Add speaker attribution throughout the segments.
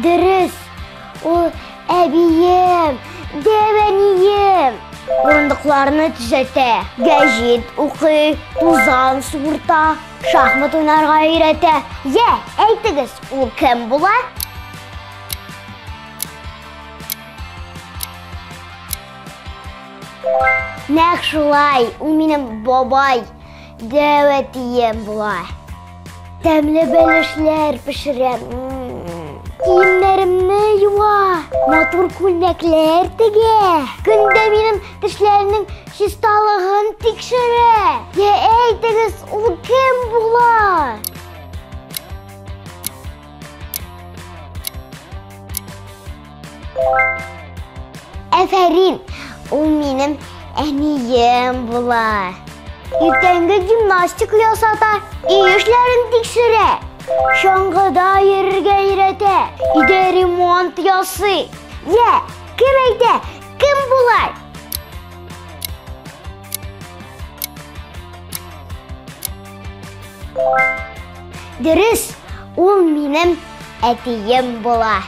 Speaker 1: Дөрес. Ул әбием, дәвәнием. Урындыкларны төзәтә, гәҗит укый, тузан суырта, шахмат уйнарга өйрәтә. Йә, әйтегез, ул кем була? Нәкъ шулай, ул минем бабай, дәвәтием була. Тәмле бәлешләр пешерәм. Киемнәремне юа, матур күлмәкләр тегә. Көндә минем тешләрнең чисталыгын тикшерә. Йә әйтегез, ул кем була? Әфәрин! Ул минем әнием була. Иртәнге гимнастика ясата, өй эшләрен тикшерә. Чаңгыда йөрергә өйрәтә, өйдә ремонт ясый. Йә, кем әйтә, кем болай? Дөрес, ул минем әтием була.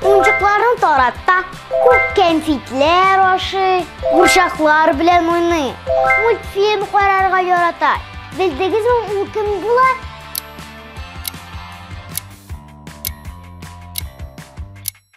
Speaker 1: Унчыкларын тарата, күп кәнфитләр ашый, курчаклар белән уйный, мультфильм карарга ярата. Белдегезме, ул кем була?